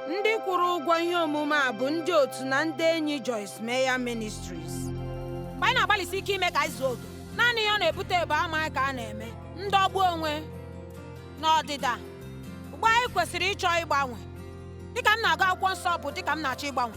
ndị kwụrụ ụgwọ ihe omume a bụ ndị otu na ndị enyi Joyce Meyer Ministries mgbe anyị na-agbalịsi ike ime ka anyị zuo oke naanị ihe ọ na-ebute bụ amaghị ka a na-eme ndọgbu onwe na ọdịda ugbu a anyị kwesịrị ịchọ ịgbanwe dịka m na-agụ akwụkwọ nsọ bụ dịka m na-achọ ịgbanwe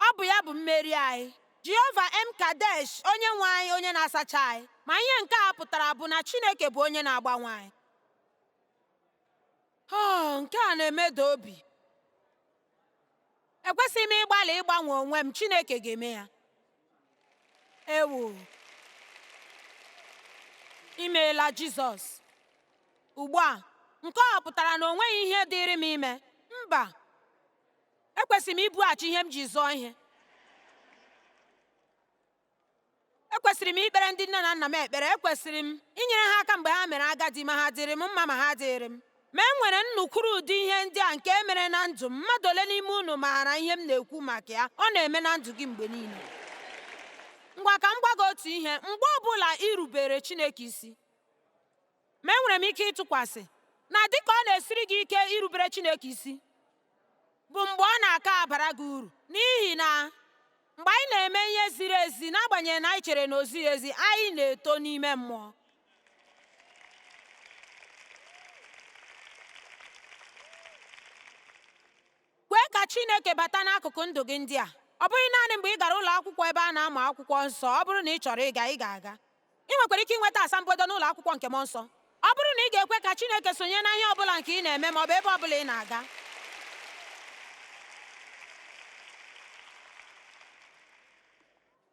Ọ bụ ya bụ mmeri anyị. Jehova M'Kaddesh, Onyenwe anyị, Onye na-asacha anyị. Ma ihe nke a pụtara bụ na Chineke bụ Onye na-agbanwe anyị. Oh, nke a na-emeda obi! Ekwesịghị m ịgbalị ịgbanwe onwe m, Chineke ga-eme ya. Ewo! Imeela Jizọs. Ugbu a, nke ọ pụtara na o nweghị ihe dịịrị m ime? Mba! ekwesịrị m ibughachi ihe m ji zụọ ihe ekwesịrị m ikpere ndị nne na nna m ekpere ekwesịrị m inyere ha aka mgbe ha mere agadi ma ha dịrị m mma ma ha dịrị m ma e nwere nnukwuru ụdị ihe ndị a nke e mere na ndụ m mmadụ ole n'ime unu maara ihe m na-ekwu maka ya ọ na-eme na ndụ gị mgbe niile ngwa ka m gwa gị otu ihe mgbe ọ bụla irubere Chineke isi Ma enwere m ike ịtụkwasị na dịka ọ na-esiri gị ike irubere Chineke isi bụ mgbe ọ na-aka abara gị uru n'ihi na mgbe anyị na-eme ihe ziri ezi n'agbanyeghị na anyị chere na o zighị ezi anyị na-eto n'ime mmụọ kwee ka Chineke bata n'akụkụ ndụ gị ndị a ọ bụghị naanị mgbe ị gara ụlọ akwụkwọ ebe a na-amụ akwụkwọ nsọ ọ bụrụ na ị chọrọ ịga ị ga-aga Ị nwekwara ike inweta asambodo n'ụlọ akwụkwọ nke mmụọ nsọ ọ bụrụ na ị ga-ekwe ka Chineke sonye na ihe ọ bụla nke ị na-eme ma ọ bụ ebe ọ bụla ị na-aga.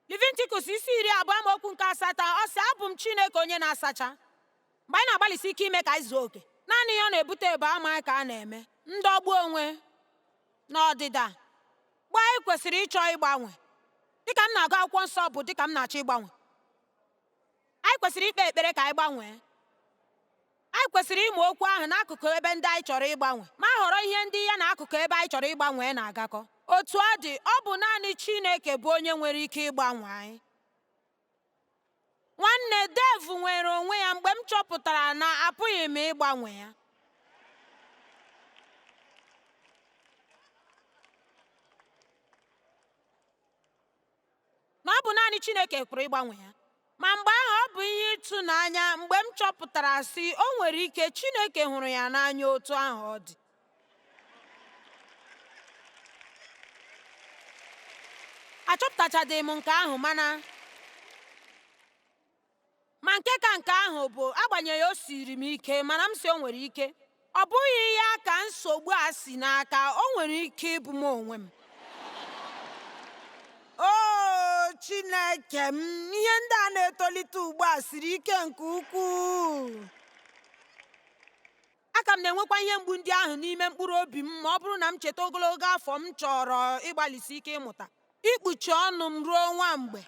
Leviticus isi iri abụọ amaokwu nke asatọ ọ sị abụ m Chineke onye na-asacha mgbe anyị na-agbalịsi ike ime ka anyị zuo oke naanị ihe ọ na-ebute bụ amaghị ka a na-eme ndọgbu onwe na ọdịda ugbu a anyị kwesịrị ịchọ ịgbanwe dịka m na-agụ akwụkwọ nsọ bụ dịka m na-achọ ịgbanwe anyị kwesịrị ikpe ekpere ka anyị gbanwee anyị kwesịrị ịmụ okwu ahụ n'akụkụ ebe ndị anyị chọrọ ịgbanwe ma họrọ ihe ndị ya na akụkụ ebe anyị chọrọ ịgbanwe na-agakọ otu ọ dị ọ bụ naanị Chineke bụ onye nwere ike ịgbanwe anyị Nwanne Dave nwere onwe ya mgbe m chọpụtara na apụghị m ịgbanwe ya. Na ọ bụ naanị Chineke pụrụ ịgbanwe ya. Ma mgbe ahụ ọ bụ ihe ịtụnanya mgbe m chọpụtara sị o nwere ike Chineke hụrụ ya n'anya otu ahụ ọ dị. achọpụtachadị m nke ahụ mana ma nke ka nke ahụ bụ agbanyeghị o siri m ike mana m si o nwere ike ọ bụghị ya ka nsogbu a si n'aka o nwere ike ịbụ m onwe m o chineke m ihe ndị a na-etolite ugbu a siri ike nke ukwuu Aka m na-enwekwa ihe mgbu ndị ahụ n'ime mkpụrụ obi m ma ọ bụrụ na m cheta ogologo afọ m chọrọ ịgbalịsi ike ịmụta ikpuchi ọnụ m ruo nwa mgbe.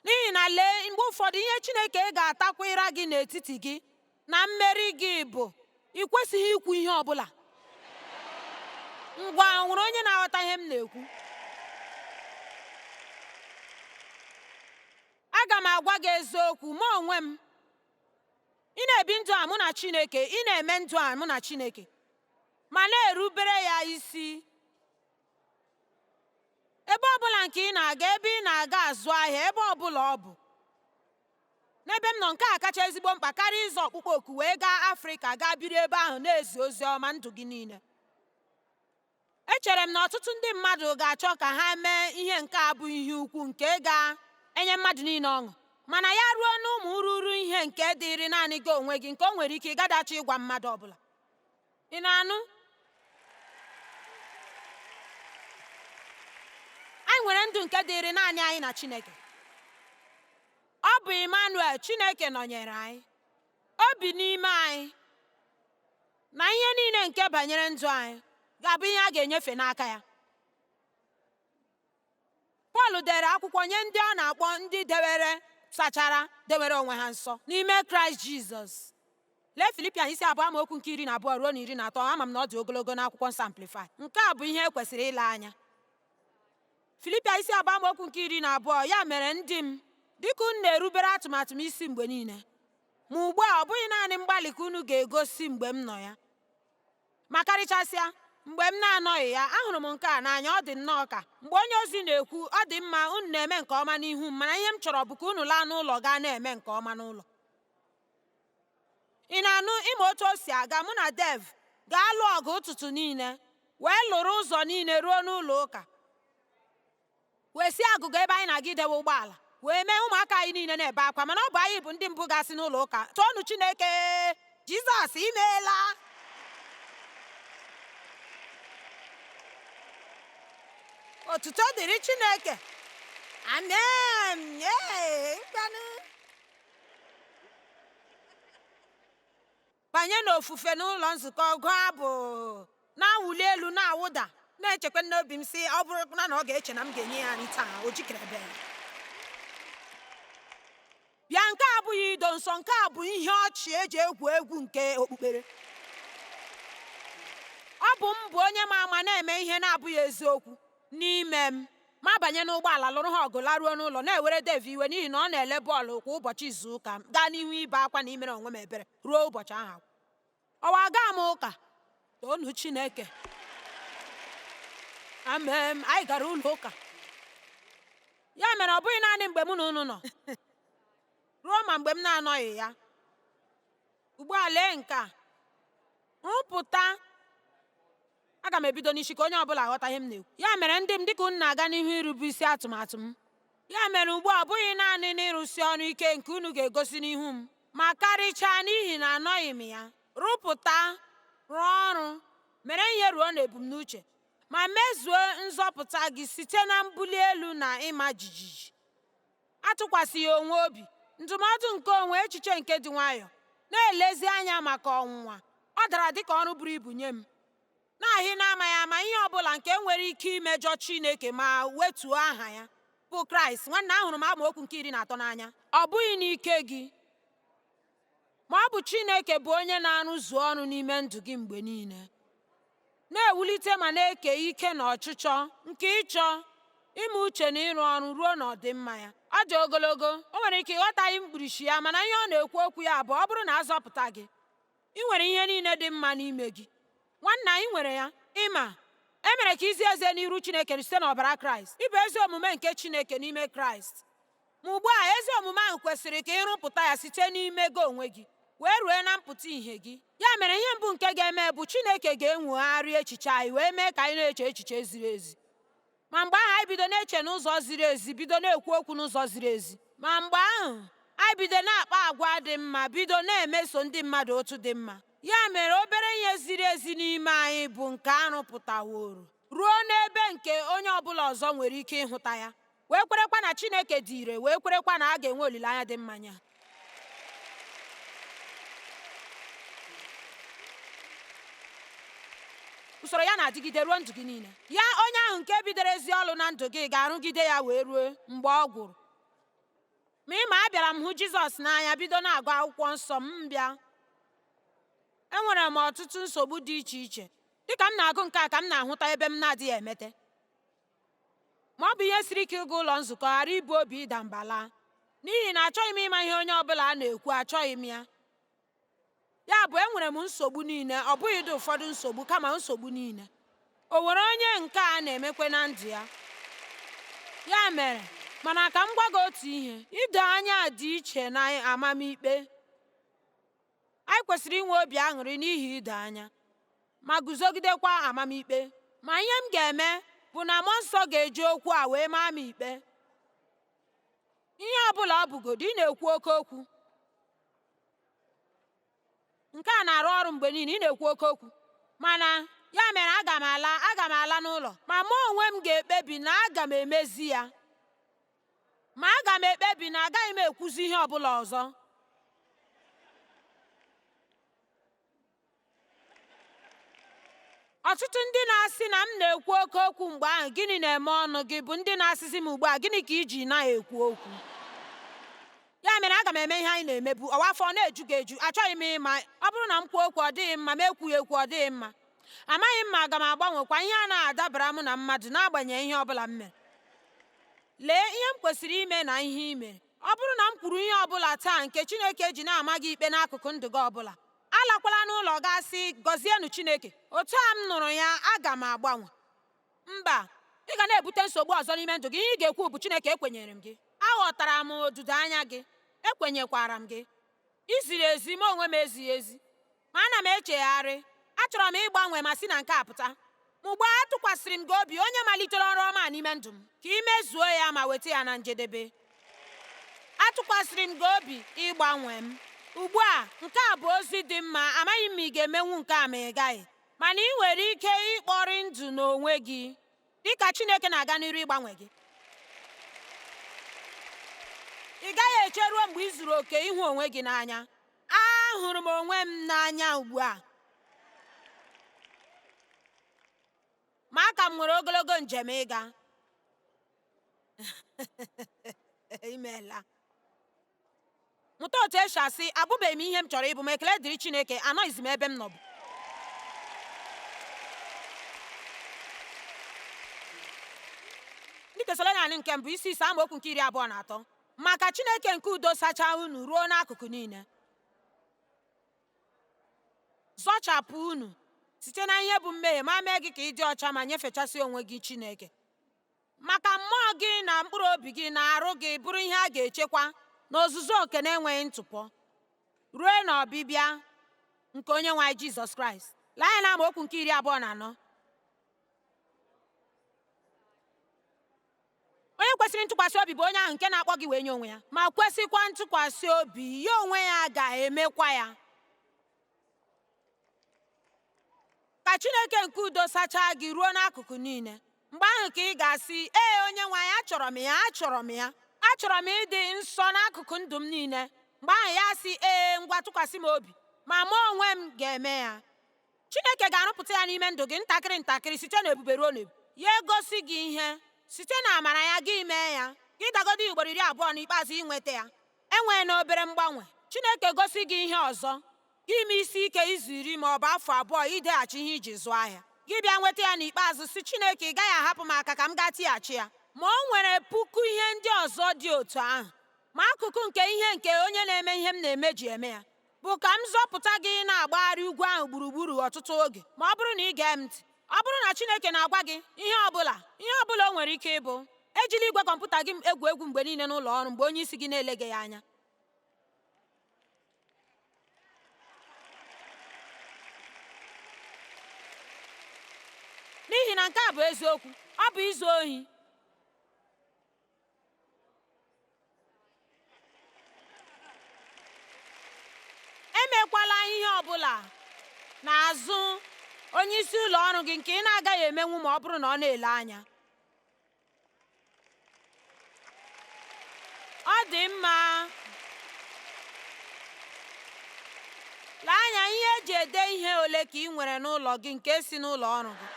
N'ihi na lee, mgbe ụfọdụ ihe Chineke ga-atakwa ịra gị n'etiti gị. na mmeri gị bụ ị kwesịghị ikwu ihe ọ bụla ngwa nwere onye na-aghọta ihe m na-ekwu aga m agwa gị eziokwu ma onwe m ị na-ebi ndụ a mụ na Chineke ị na-eme ndụ a mụ na Chineke ma na-erubere ya isi ebe ọbụla nke ị na-aga ebe ị na-aga azụ ahịa ebe ọbụla ọ bụ N'ebe m nọ, nke a kacha ezigbo mkpa karịa ịza ọkpụkpọ oku wee gaa Afrịka gaa biri ebe ahụ na-ezi ozi ọma ndụ gị niile. Echere m na ọtụtụ ndị mmadụ ga-achọ ka ha mee ihe nke a bụ ihe ukwu nke ga-enye mmadụ niile ọṅụ, mana ya ruo n'ụmụ ururu ihe nke dịịrị naanị gị onwe gị nke o nwere ike ị gaghị achọ ịgwa mmadụ ọbụla. ị na-anụ anyị nwere ndụ nke dịịrị naanị anyị na Chineke ọ bụ Emmanuel Chineke nọnyere anyị o bi n'ime anyị na ihe niile nke banyere ndụ anyị ga-abụ ihe a ga-enyefe n'aka ya pọl dere akwụkwọ nye ndị ọ na-akpọ ndị dewere sachara dewere onwe ha nsọ n'ime kraịst jizọs lee filipian isi abụọ amaokwu nke iri na abụọ ruo na iri na atọ ama m na ọ dị ogologo n'akwụkwọ nsọ amplifai nke a bụ ihe e kwesịrị ile anya filipian isi abụọ amaokwu nke iri na abụọ ya mere ndị m dịka unu na-erubere atụmatụ m isi mgbe niile ma ugbu a ọ bụghị naanị mgbalị ka unu ga-egosi mgbe m nọ ya Ma karịchasịa, mgbe m na-anọghị ya, ahụrụ m nke a n'anya ọ dị nnọọ ka mgbe onye ozi na-ekwu ọ dị mma unu na-eme nke ọma n'ihu m mana ihe m chọrọ bụ ka unu laa n'ụlọ gaa na-eme nke ọma n'ụlọ ị na-anụ ị ma otu o si aga mụ na Dave ga-alụ ọgụ ụtụtụ niile wee lụrụ ụzọ niile ruo n'ụlọ ụka wee si agụgọ ebe anyị na-aga idewe ụgbọala wee mee ụmụaka anyị niile na-ebe akwa mana ọ bụ anyị bụ ndị mbụ ga-asị n'ụlọ ụka toonu Chineke Jizọs imeela otuto dịrị Chineke amen banye n'ofufe n'ụlọ nzukọ gụọ abụ na-awụli elu na-awụda na-echekwa n'obi m sị ọ bụrụ na ọ ga-eche na m ga-enye ya nri taa o jikerebe bịa nke a abụghị ido nsọ nke a bụ ihe ọchị eji egwu egwu nke okpukpere ọ bụ m bụ onye ma ama na-eme ihe na-abụghị eziokwu n'ime m ma banye n'ụgbọala lụrụ ha ọgụ laruo n'ụlọ na-ewere Dev iwe n'ihi na ọ na-ele bọọlụ kwa ụbọchị izu ụka gaa n'ihu ibe akwa na imere onwe m ebere ruo ụbọchị ahụ agwụ ọwa aga m ụka toonu Chineke amen anyị gara ụlọ ụka ya mere ọ bụghị naanị mgbe mụ na unu nọ ruo ma mgbe m na-anọghị ya ugbu a lee nke a nrụpụta Aga m ebido n'isi ka onye ọ bụla ghọta ihe m na-ekwu. Ya mere ndị m, dịka unu na-aga n'ihu irube isi atụmatụ m, ya mere ugbu a ọ bụghị naanị n'ịrụsi ọrụ ike nke unu ga-egosi n'ihu m, ma karịchaa n'ihi na anọghị m ya, rụpụta, rụọ ọrụ, mere ihe ruo n'ebumnuche, ma mezuo nzọpụta gị site na mbuli elu na ịma jijiji. atụkwasịghị onwe obi, ndụmọdụ nke onwe, echiche nke dị nwayọọ, na-elezi anya maka ọnwụnwa. Ọ dara dị ka ọrụ buru ibu nye m, na-ahị n'amaghị ama ihe ọ bụla nke nwere ike imejọ Chineke ma wetuo aha ya, bụ Kraịst. Nwanna, ahụrụ m amaokwu nke iri na atọ n'anya. Ọ bụghị n'ike gị. ma ọ bụ Chineke bụ onye na-arụzu ọrụ n'ime ndụ gị mgbe niile na-ewulite ma na-eke ike na ọchịchọ nke ịchọ ime uche na ịrụ ọrụ ruo n'ọdịmma ya ọ dị ogologo o nwere ike ị ghọtaghị mkpirisi ya mana ihe ọ na-ekwu okwu ya bụ ọ bụrụ na a zọpụta gị ị nwere ihe niile dị mma n'ime gị nwanna ị nwere ya ị ma e mere ka i zie ezi n'iru Chineke site n'ọbara Kraịst ị bụ ezi omume nke Chineke n'ime Kraịst Ma ugbu a ezi omume ahụ kwesịrị ka ị rụpụta ya site n'ime gị onwe gị wee rue na mpụta ihe gị ya mere ihe mbụ nke ga-eme bụ Chineke ga-enwogharị echiche anyị wee mee ka anyị na-eche echiche ziri ezi ma mgbe ahụ anyị bido na-eche n'ụzọ ziri ezi bido na-ekwu okwu n'ụzọ ziri ezi ma mgbe ahụ anyị bido na-akpa agwa dị mma bido na-emeso ndị mmadụ otu dị mma ya mere obere ihe ziri ezi n'ime anyị bụ nke a rụpụtaworo ruo n'ebe nke onye ọbụla ọzọ nwere ike ịhụta ya wee kwerekwa na Chineke dị ire wee kwerekwa na a ga-enwe olileanya dị mma ya usoro ya na-adịgide ruo ndụ gị niile ya onye ahụ nke bidoro ezi ọlụ na ndụ gị ga-arụgide ya wee ruo mgbe ọ gwụrụ ma ị ma abịara m hụ jizọs n'anya bido na-agụ akwụkwọ nsọ m bịa enwere m ọtụtụ nsogbu dị iche iche dịka m na-agụ nke a ka m na-ahụta ebe m na-adịghị emete ma ọ bụ ihe siri ike ịga ụlọ nzukọ ghara ibu obi ịda mba laa n'ihi na achọghị m ịma ihe onye ọ bụla a na-ekwu achọghị m ya ya bụ enwere m nsogbu niile ọ bụghịdị ụfọdụ nsogbu kama nsogbu niile o nwere onye nke a na-emekwe na ndụ ya ya mere mana ka m gwa gị otu ihe ido anya dị iche na amamikpe Anyị kwesịrị inwe obi aṅụrị n'ihi ido anya ma guzogidekwa amamikpe. Ma ihe m ga-eme bụ na mmụọ nsọ ga-eji okwu a wee maa m ikpe. Ihe ọ bụla ọ bụgodu, ị na-ekwu oke okwu. Nke a na-arụ ọrụ mgbe niile, ị na-ekwu oke okwu. Mana ya mere aga m ala aga m ala n'ụlọ ma mụ onwe m ga-ekpebi na aga m emezi ya. Ma aga m ekpebi na agaghị m ekwuzi ihe ọ bụla ọzọ. Ọtụtụ ndị na-asị na m na-ekwu oke okwu mgbe ahụ, gịnị na-eme ọnụ gị bụ ndị na-asịzi m ugbu a, gịnị ka i ji na-ekwu okwu? Ya mere aga m eme ihe anyị na-emebu, ụwa afọ ọ na-eju gị eju, achọghị m ịma, ọ bụrụ na m kwuo okwu ọ dịghị mma, m ekwughị ekwu ọ dịghị mma. amaghị m ma aga m agbanwekwa ihe a na-adabara m na mmadụ n'agbanyeghị ihe ọ bụla m mere lee ihe m kwesịrị ime na ihe i mere ọ bụrụ na m kwuru ihe ọ bụla taa nke Chineke ji na-ama gị ikpe n'akụkụ ndụ gị ọ bụla alakwala n'ụlọ gaa sị gọzienụ Chineke otu a m nụrụ ya aga m agbanwe mba ị ga na-ebute nsogbu ọzọ n'ime ndụ gị ihe ị ga-ekwu bụ Chineke ekwenyere m gị aghọtara m odudo anya gị ekwenyekwara m gị i ziri ezi mụ onwe m ezighị ezi Ma ana m echegharị. Achọrọ m ịgbanwe ma si na nke a pụta. Ma ugbu a atụkwasịrị m gị obi, onye malitere ọrụ ọma n'ime ndụ m, ka i mezuo ya ma weta ya na njedebe. Atụkwasịrị m gị obi ịgbanwe m. Ugbu a, nke a bụ ozi dị mma, amaghị m ma ị ga-emenwu nke a ma ị gaghị. Mana i nwere ike ikpori ndụ n'onwe gị dịka Chineke na-aga n'iru ịgbanwe gị. Ị gaghị eche ruo mgbe i zuru oke ịhụ onwe gị n'anya. Ahụrụ m onwe m n'anya ugbu a. Ma aka m nwere ogologo njem ịga. Imeela. Mụta otu esi asị abụbeghị m ihe m chọrọ ịbụ ma ekele dịrị Chineke anọghịzi m ebe m nọbu. Ndị Tesalonaịka nke mbụ isi ise amaokwu nke iri abụọ na atọ Ma ka Chineke nke udo sachaa unu ruo n'akụkụ niile, zọchapụ unu site na ihe bụ mmehie ma mee gị ka ị dị ọcha ma nyefechasị onwe gị Chineke. Ma ka mmụọ gị na mkpụrụ obi gị na arụ gị bụrụ ihe a ga-echekwa n'ozuzu oke na-enweghị ntụpọ ruo n'ọbịbịa nke onye nwe anyị Jizọs Kraịst. Lee anya na amaokwu nke iri abụọ na anọ. Onye kwesịrị ntụkwasị obi bụ onye ahụ nke na-akpọ gị wee nye onwe ya. Ma kwesịkwa ntụkwasị obi, ya onwe ya ga-emekwa ya. Ka Chineke nke udo sachaa gị ruo n'akụkụ niile. Mgbe ahụ ka ị ga-asị, Ee, onye nwe anyị, achọrọ m ya, achọrọ m ya. Achọrọ m ịdị nsọ n'akụkụ ndụ m niile. Mgbe ahụ ya asị, Ee, ngwa tụkwasị m obi, ma mụ onwe m ga-eme ya. Chineke ga-arụpụta ya n'ime ndụ gị ntakịrị ntakịrị site n'ebube ruo n'ebube. Ya egosi gị ihe site na amara ya gị mee ya gị dagodi ugboro iri abụọ n'ikpeazụ i nweta ya enweena obere mgbanwe. Chineke gosi gị ihe ọzọ gị ime isi ike izu iri ma ọ bụ afọ abụọ ideghachi ihe iji zụọ ahịa gị bịa nweta ya n'ikpeazụ sị Chineke ị gaghị ahapụ m aka ka m gaa tighachi ya. Ma o nwere puku ihe ndị ọzọ dị otu ahụ, ma akụkụ nke ihe nke onye na-eme ihe m na-eme ji eme ya. bụ ka m zọpụta gị ịna-agbagharị ugwu ahụ gburugburu ọtụtụ oge ma ọ bụrụ na ị gee m ntị ọ bụrụ na Chineke na-agwa gị ihe ihe ọ bụla o nwere ike ịbụ ejila igwe kọmputa gị egwu egwu mgbe niile n'ụlọ ọrụ mgbe onye isi gị na-eleghị ya anya n'ihi na nke a bụ eziokwu ọ bụ izu ohi emekwala ihe ọ bụla n'azụ onye isi ụlọ ọrụ gị nke ị na-agaghị emenwu ma ọ bụrụ na ọ na-ele anya ọ dị mma lee anya ihe eji ede ihe ole ka ị nwere n'ụlọ gị nke si n'ụlọ ọrụ gị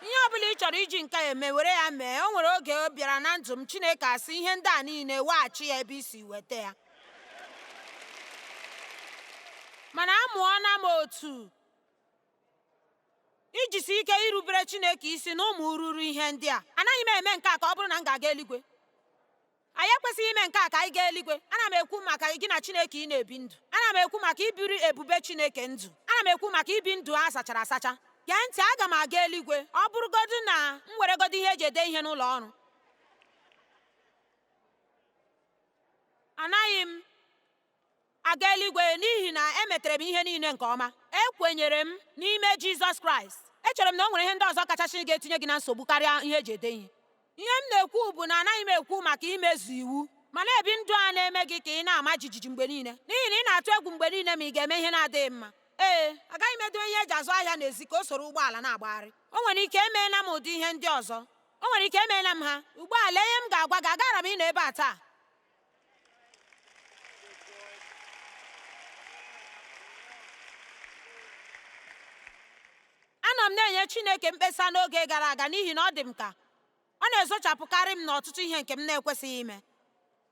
ihe ọ bụla ị chọrọ iji nke a eme were ya mee o nwere oge bịara na ndụ m chineke asị ihe ndị a niile weghachi ya ebe i si weta ya mana amụọna m otu ijisi ike irubere chineke isi na ụmụ irighiri ihe ndị a anaghị m eme nke a ka ọ bụrụ na m ga-aga eluigwe anyị ekwesịghị ime nke a ka anyị gaa eluigwe ana m ekwu maka gị na chineke ị na-ebi ndụ ana m ekwu maka ibiri ebube chineke ndụ ana m ekwu maka ibi ndụ a sachara asacha gee ntị aga m aga eluigwe ọ bụrụgodu na m weregodu ihe eji ede ihe n'ụlọ ọrụ anaghị m Aga eluigwe n'ihi na emetere m ihe niile nke ọma. Ekwenyere m n'ime Jizọs Kraịst. Echere m na o nwere ihe ndị ọzọ kachasị ga-etinye gị na nsogbu karịa ihe eji ede ihe. Ihe m na-ekwu bụ na anaghị m ekwu maka imezu iwu, ma na-ebi ndụ a na-eme gị ka ị na-ama jijiji mgbe niile n'ihi na ị na-atụ egwu mgbe niile ma ị ga-eme ihe na-adịghị mma. Ee, agaghị m edowe ihe eji azụ ahịa n'ezi ka o soro ụgbọala na-agbagharị. O nwere ike emeela m ụdị ihe ndị ọzọ. O nwere ike emeela m ha. Ugbu a lee ihe m ga-agwa gị, agaara m ịnọ ebe a taa. anọ m na-enye Chineke mkpesa n'oge gara aga n'ihi na ọ dị m ka ọ na-ezochapụkarị m n'ọtụtụ ihe nke m na-ekwesịghị ime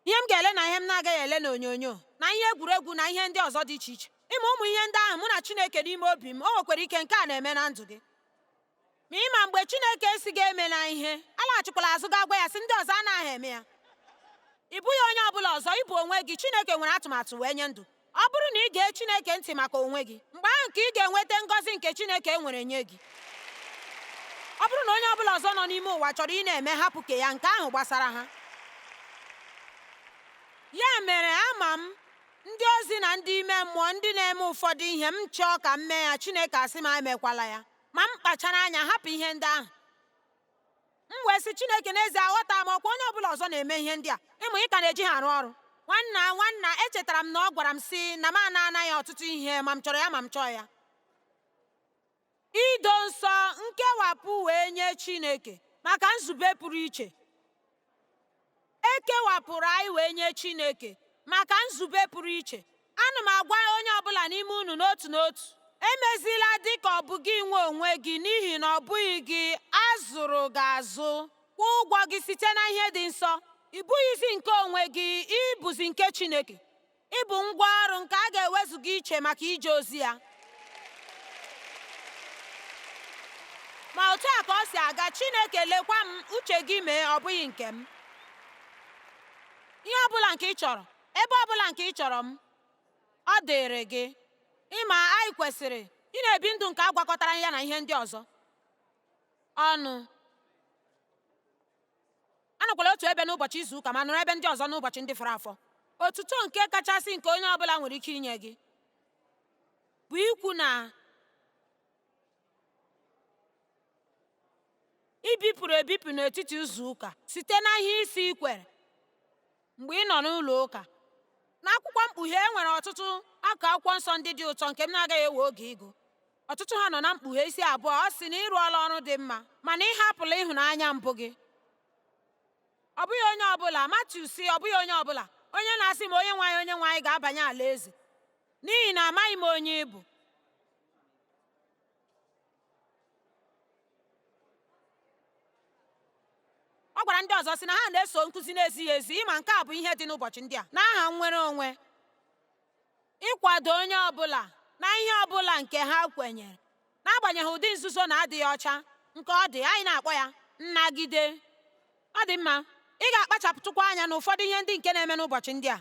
ihe m ga-ele na ihe m na-agaghị ele n'onyonyo na ihe egwuregwu na ihe ndị ọzọ dị iche iche ị ma ụmụ ihe ndị ahụ mụ na Chineke n'ime obi m o nwekwara ike nke a na-eme na ndụ gị ma ị ma mgbe Chineke sị gị emela ihe alaghachikwala azụ gaa gwa ya sị ndị ọzọ anaghị eme ya ị bụghị onye ọ bụla ọzọ ị bụ onwe gị Chineke nwere atụmatụ wee nye ndụ ọ bụrụ na ị gee Chineke ntị maka onwe gị mgbe ahụ ka ị ga-enweta ngọzi nke Chineke nwere nye gị ọ bụrụ na onye ọ bụla ọzọ nọ n'ime ụwa chọrọ ị na-eme hapụ ke ya nke ahụ gbasara ha ya mere ama m ndị ozi na ndị ime mmụọ ndị na-eme ụfọdụ ihe m chọọ ka m mee ya Chineke asị m emekwala ya ma m kpachara anya hapụ ihe ndị ahụ m wee sị Chineke n'ezie aghọta m ọkwa onye ọbụla ọzọ na-eme ihe ndị a ma ị ka na-eji ha arụ ọrụ nwanna nwanna echetara m na ọ gwara m sị na m ana ana ya ọtụtụ ihe ma m chọrọ ya ma m chọọ ya ido nsọ nkewapụ wee nye Chineke maka nzube pụrụ iche E kewapụrụ anyị wee nye Chineke maka nzube pụrụ iche. Ana m agwa onye ọ bụla n'ime unu n'otu n'otu, emezila dị ka ọ bụ gị nwe onwe gị n'ihi na ọ bụghị gị a zụrụ gị azụ. Kwụọ ụgwọ gị site na ihe dị nsọ. Ị bụghịzi nke onwe gị, ị bụzi nke Chineke. ị bụ ngwa ọrụ nke a ga-ewezuga iche maka ije ozi ya ma otu a ka o si aga Chineke lekwa m uche gị mee ọ bụghị nke m ihe ọbụla nke ị chọrọ ebe ọbụla nke ị chọrọ m ọ dịrị gị ị ma anyị kwesịrị ị na-ebi ndụ nke a gwakọtara ya na ihe ndị ọzọ ọnụ anọkwala otu ebe n'ụbọchị izu ụka ma nọrọ ebe ndị ọzọ n'ụbọchị ndị fọrọ afọ otuto nke kachasị nke onye ọbụla nwere ike inye gị bụ ikwu na i bipụrụ ebipụ n'etiti izu ụka site na ihe ị sị i kwere mgbe ị nọ n'ụlọ ụka n'akwụkwọ mkpughe e nwere ọtụtụ akụkụ akwụkwọ nsọ ndị dị ụtọ nke m na-agaghị ewe oge ịgụ ọtụtụ ha nọ na mkpughe isi abụọ ọ sị na ị rụọla ọrụ dị mma mana ị hapụla ịhụnanya mbụ gị ọ bụghị onye ọbụla Matiu sị ọ bụghị onye ọbụla onye na-asị m onye nwe anyị onye nwe anyị ga-abanye alaeze n'ihi na amaghị m onye ị bụ ọ gwara ndị ọzọ sị na ha na-eso nkụzi na-ezighị ezi ị ma nke a bụ ihe dị n'ụbọchị ndị a n'aha nnwere onwe ịkwado onye ọbụla na ihe ọbụla nke ha kwenyere n'agbanyeghị ụdị nzuzu na adịghị ọcha nke ọ dị anyị na-akpọ ya nnagide ọ dị mma ị ga-akpachapụtụkwa anya n'ụfọdụ ihe ndị nke na-eme n'ụbọchị ndị a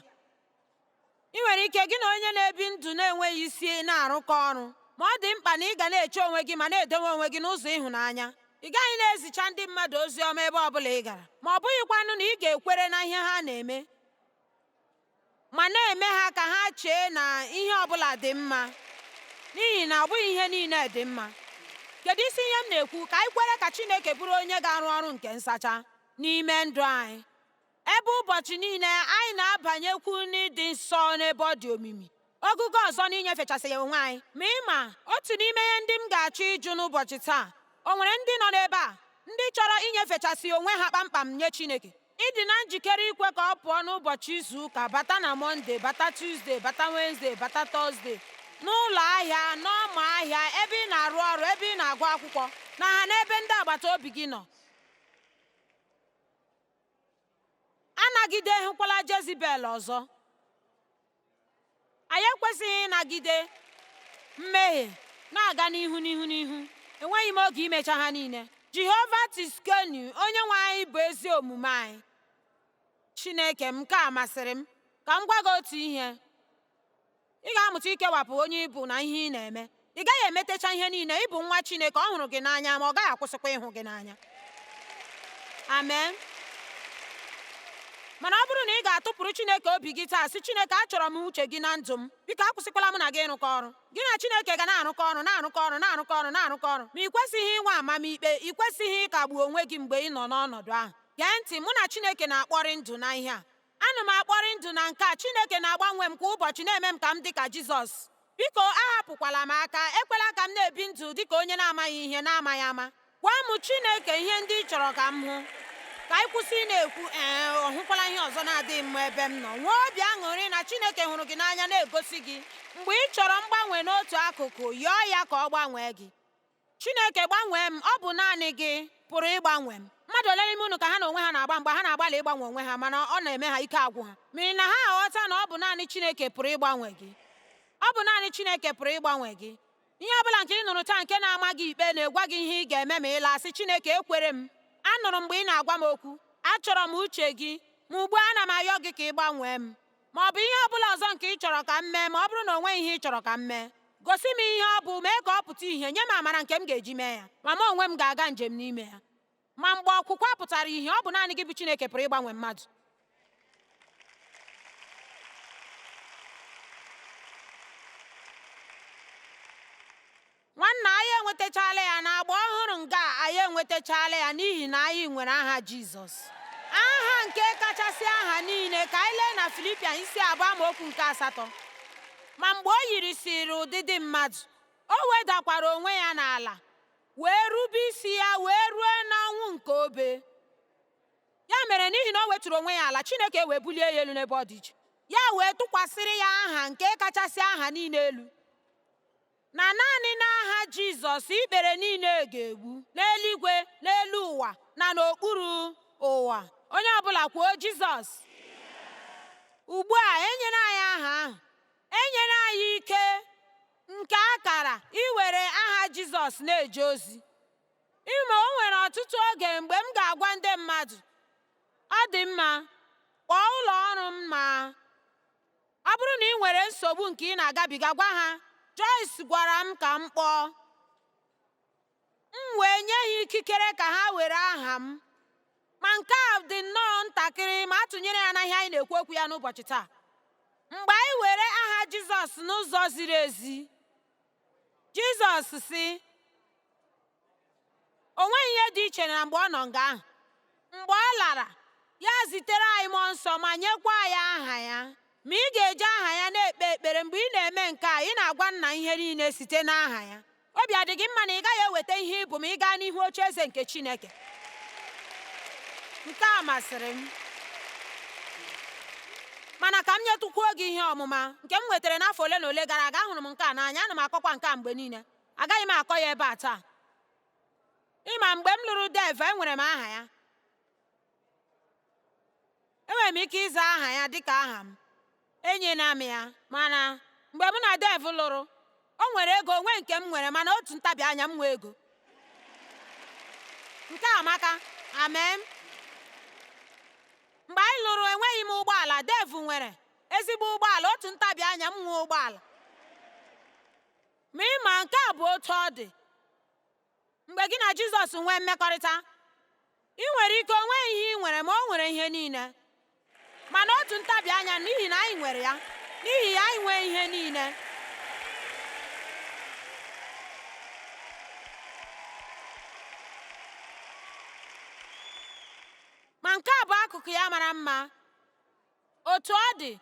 i nwere ike gị na onye na-ebi ndụ na-enweghị isi na-arụkọ ọrụ ma ọ dị mkpa na ị ga na-eche onwe gị ma na-edowe onwe gị n'ụzọ ịhụnanya ị gaghị na-ezicha ndị mmadụ ozi ọma ebe ọ bụla ị gara ma ọ bụghịkwanụ na ị ga-ekwere na ihe ha na-eme ma na-eme ha ka ha chee na ihe ọ bụla dị mma n'ihi na ọ bụghị ihe niile dị mma kedu isi ihe m na-ekwu ka anyị kwere ka Chineke bụrụ onye ga-arụ ọrụ nke nsacha n'ime ndụ anyị Ebe ụbọchị niile anyị na-abanyekwu n'ịdị nsọ n'ebe ọ dị omimi, ogogo ọzọ n'inyefechasị ya onwe anyị. Ma ị ma, otu n'ime ihe ndị m ga-achọ ịjụ n'ụbọchị taa, o nwere ndị nọ n'ebe a ndị chọrọ inyefechasị onwe ha kpamkpam nye Chineke? Ị dị na njikere ikwe ka ọ pụọ n'ụbọchị izu ụka bata na Mọnde, bata Tuzde, bata Wenzde, bata Tọzde, n'ụlọ ahịa, n'ọma ahịa, ebe ị na-arụ ọrụ, ebe ị na-agụ akwụkwọ, na ha n'ebe ndị agbata obi gị nọ? anagideghịkwala Jezibel ọzọ. Anyị ekwesịghị ịnagide mmehie na-aga n'ihu n'ihu n'ihu. Enweghị m oge imecha ha niile. Jehova Tiskenu, onye nwe anyị bụ ezi omume anyị. Chineke m, nke a masịrị m. Ka m gwa gị otu ihe. Ị ga-amụta ikewapụ onye ị bụ na ihe ị na-eme. Ị gaghị emetecha ihe niile. Ị bụ nwa Chineke, ọ hụrụ gị n'anya, ma ọ gaghị akwụsịkwa ịhụ gị n'anya. Amen. Mana ọ bụrụ na ị ga-atụpụrụ Chineke obi gị taa, sị Chineke, achọrọ m uche gị na ndụ m. Biko akwụsịkwala m na gị ịrụkọ ọrụ. Gị na Chineke ga na-arụkọ ọrụ, na-arụkọ ọrụ, na-arụkọ ọrụ, na-arụkọ ọrụ. Ma ị kwesịghị inwe amamikpe, ị kwesịghị ịkagbu onwe gị mgbe ị nọ n'ọnọdụ ahụ. Gee ntị, mụ na Chineke na-akpọrị ndụ na ihe a. Ana m akpọrị ndụ na nke a. Chineke na-agbanwe m kwa ụbọchị, na-eme m ka m dị ka Jizọs. Biko, ahapụkwala m aka. Ekwela ka m na-ebi ndụ dị ka onye na-amaghị ihe n'amaghị ama. Gwa m, Chineke, ihe ndị ị chọrọ ka m hụ. Ka anyị kwụsị ị na-ekwu, Ee, ọ hụkwala ihe ọzọ na-adịghị mma ebe m nọ. Nwee obi aṅụrị na Chineke hụrụ gị n'anya na-egosi gị. Mgbe ị chọrọ mgbanwe n'otu akụkụ, yọọ ya ka ọ gbanwee gị. Chineke gbanwee m, ọ bụ naanị gị pụrụ ịgbanwe m. Mmadụ ole n'ime unu ka ha na onwe ha na-agba mgba, ha na-agbalị ịgbanwe onwe ha mana ọ na-eme ha ike agwụ ha? N'ihi na ha aghọta na ọ bụ naanị Chineke pụrụ ịgbanwe gị. Ọ bụ naanị Chineke pụrụ ịgbanwe gị. Ihe ọ bụla nke ị nụrụ taa nke na-ama gị ikpe na-egwa gị ihe ị ga-eme ma ị laa, sị Chineke ekwere m. Anụrụ m mgbe ị na-agwa m okwu. Achọrọ m uche gị. Ma ugbu a ana m ayọ gị ka ị gbanwee m. ma ọ bụ ihe ọ bụla ọzọ nke ị chọrọ ka m mee ma ọ bụrụ na o nweghị ihe ị chọrọ ka m mee gosi m ihe ọ bụ mee ka ọ pụta ìhè nye m amara nke m ga-eji mee ya ma m onwe m ga-aga njem n'ime ya ma mgbe ọkwụkwa pụtara ìhè ọ bụ naanị gị bụ Chineke pụrụ ịgbanwe mmadụ nwanna anyị enwetachala ya na agba ọhụrụ nga anyị enwetachala ya n'ihi na anyị nwere aha jizọs aha nke kachasị aha niile ka anyị lee na filipian isi abụọ amaokwu nke asatọ ma mgbe o yirisiri ụdịdị mmadụ o wedakwara onwe ya n'ala wee rube isi ya wee ruo n'ọnwụ nke obe ya mere n'ihi na o wetụrụ onwe ya ala chineke wee bulie ya elu n'ebe ọ dị iche ya wee tụkwasịrị ya aha nke kachasị aha niile elu na naanị n'aha Jizọs ikpere niile ga-egbu n'eluigwe n'elu ụwa na n'okpuru ụwa onye ọbụla kwuo Jizọs ugbu a enyere anyị aha ahụ enyere anyị ike nke akara iwere aha Jizọs na-eje ozi ị ma o nwere ọtụtụ oge mgbe m ga-agwa ndị mmadụ ọ dị mma kpọọ ụlọ ọrụ m ma Ọ bụrụ na ị nwere nsogbu nke ị na-agabiga, gwa ha, Joyce gwara m ka m kpọọ. M wee nye ha ikikere ka ha were aha m. Ma nke a dị nnọọ ntakịrị ma a tụnyere ya na ihe anyị na-ekwu okwu ya n'ụbọchị taa. Mgbe anyị were aha Jizọs n'ụzọ ziri ezi, Jizọs sị o nweghị ihe dị iche na mgbe ọ nọ nga ahụ mgbe ọ lara ya zitere anyị mmụọ nsọ ma nyekwa anyị aha ya ma ị ga-eji aha ya na-ekpe ekpere mgbe ị na-eme nke a ị na-agwa nna ihe niile site n'aha ya obi adị gị mma na ị gaghị eweta ihe ị bụ ma ị gaa n'ihu oche eze nke Chineke nke a masịrị m Mana ka m nyetụkwuo gị ihe ọmụma nke m nwetara n'afọ ole na ole gara aga, ahụrụ m nke a n'anya, ana m akọkwa nke a mgbe niile. Agaghị m akọ ya ebe a taa. Ị ma, mgbe m lụrụ Dev, enwere m aha ya. Enwere m ike ịza aha ya dị ka aha m, enyela m ya. Mana mgbe mụ na Dev lụrụ, O nwere ego o nweghị nke m nwere mana otu ntabi anya m nwee ego. Nke a amaka. Amen. Mgbe anyị lụrụ enweghị m ụgbọala, Dev nwere ezigbo ụgbọala, otu ntabi anya m nwee ụgbọala. Ma ị ma nke a bụ otu ọ dị. mgbe gị na Jizọs nwee mmekọrịta i nwere ike o nweghị ihe i nwere ma o nwere ihe niile mana otu ntabi anya n'ihi na anyị nwere ya n'ihi ya anyị nwee ihe niile ma nke a bụ akụkụ ya mara mma otu ọ dị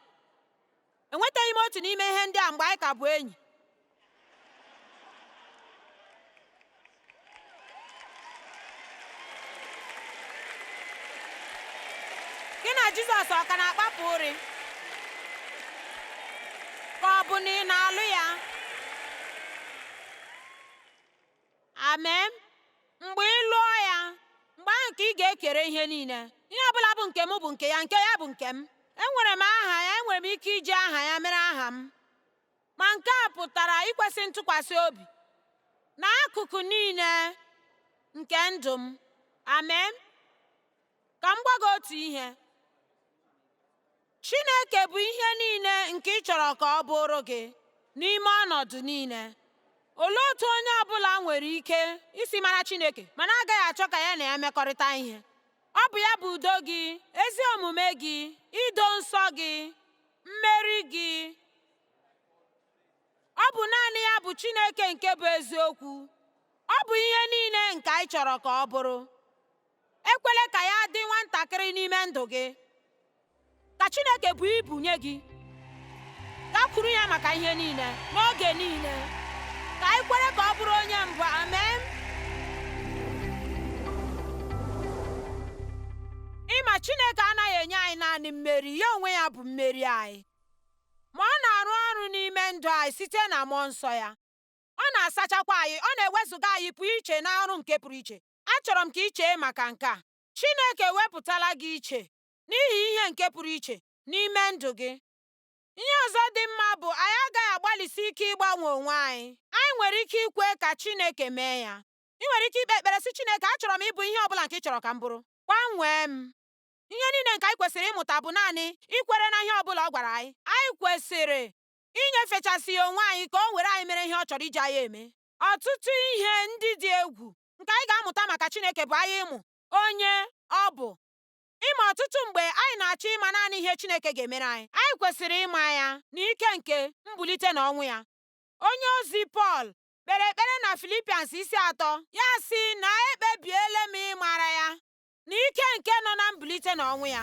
Enwetaghị m otu n'ime ihe ndị a mgbe anyị ka bụ enyi. Gị na Jizọs ọ ka na-akpapụ ụrị? Ka ọ bụ na ị na-alụ ya? Amen. Mgbe ị lụọ ya, mgbe ahụ ka ị ga-ekere ihe niile. Ihe ọ bụla bụ nke m bụ nke ya, nke ya bụ nke m. Enwere m aha ya, enwere m ike iji aha ya mere aha m. Ma nke a pụtara ikwesị ntụkwasị obi n'akụkụ niile nke ndụ m. Amen. Ka m gwa gị otu ihe. Chineke bụ ihe niile nke ị chọrọ ka ọ bụụrụ gị n'ime ọnọdụ niile. Olee otu onye ọ bụla nwere ike isi mara Chineke ma na-agaghị achọ ka ya na ya mekọrịta ihe? Ọ bụ ya bụ udo gị, ezi omume gị, ido nsọ gị, mmeri gị. Ọ bụ naanị ya bụ Chineke nke bụ eziokwu. Ọ bụ ihe niile nke anyị chọrọ ka ọ bụrụ. Ekwela ka ya dị nwantakịrị n'ime ndụ gị. Ka Chineke buo ibu nye gị. Gakwuru ya maka ihe niile, n'oge niile. Ka anyị kwere ka ọ bụrụ onye mbụ. Amen. Ị ma Chineke anaghị enye anyị naanị mmeri, ya onwe ya bụ mmeri anyị. Ma ọ na-arụ ọrụ n'ime ndụ anyị site na mmụọ nsọ ya. Ọ na-asachakwa anyị, ọ na-ewezụga anyị pụọ iche n'ọrụ nke pụrụ iche. Achọrọ m ka i chee maka nke a. Chineke ewepụtala gị iche n'ihi ihe nke pụrụ iche n'ime ndụ gị. Ihe ọzọ dị mma bụ anyị agaghị agbalịsi ike ịgbanwe onwe anyị. Anyị nwere ike ikwe ka Chineke mee ya. I nwere ike ikpe ekpere sị Chineke, achọrọ m ịbụ ihe ọ bụla nke ị chọrọ ka m bụrụ. Gbanwee m. Ihe niile nke anyị kwesịrị ịmụta bụ naanị ikwere na ihe ọ bụla ọ gwara anyị. Anyị kwesịrị inyefechasị ya onwe anyị ka o were anyị mere ihe ọ chọrọ iji anyị eme. Ọtụtụ ihe ndị dị egwu nke anyị ga-amụta maka Chineke bụ anyị ịmụ onye ọ bụ. ị ma ọtụtụ mgbe anyị na-achọ ịma naanị ihe Chineke ga-emere anyị, anyị kwesịrị ịma ya na ike nke mbulite na ọnwụ ya. Onye ozi Pọl kpere ekpere na Filipians isi atọ ya sị na ekpebiela m ịmara ya na ike nke nọ na mbulite na ọnwụ ya.